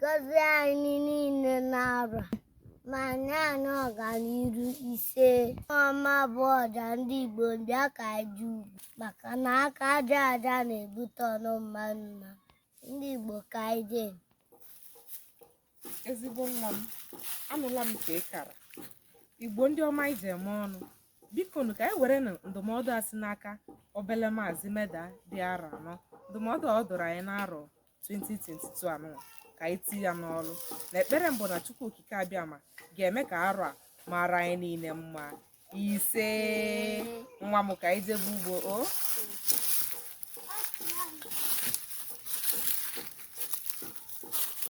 gọzie anyị niile n'arọ a ma nye anyị ọganiru ise ọma bụ ọja ndị Igbo bịa ka anyị jee ugbo maka na aka aja aja na-ebute ọnụ mmanụ mmanụ ndị Igbo ka anyị jee ezigbo nwa m anụla m nke ị kara igbo ndị ọma anyị ji eme ọnụ biko nụ ka anyị were nụ ndụmọdụ a si n'aka obele maazị meda dị arọ anọ ndụmọdụ a ọ dụrụ anyị n'arọ 2022 anụnwa ka anyị tinye ya n'ọrụ na ekpere m bụ na chukwu okike abịama ga-eme ka arọ a mara anyị niile mma ise nwa m ka anyị jebe ugbo o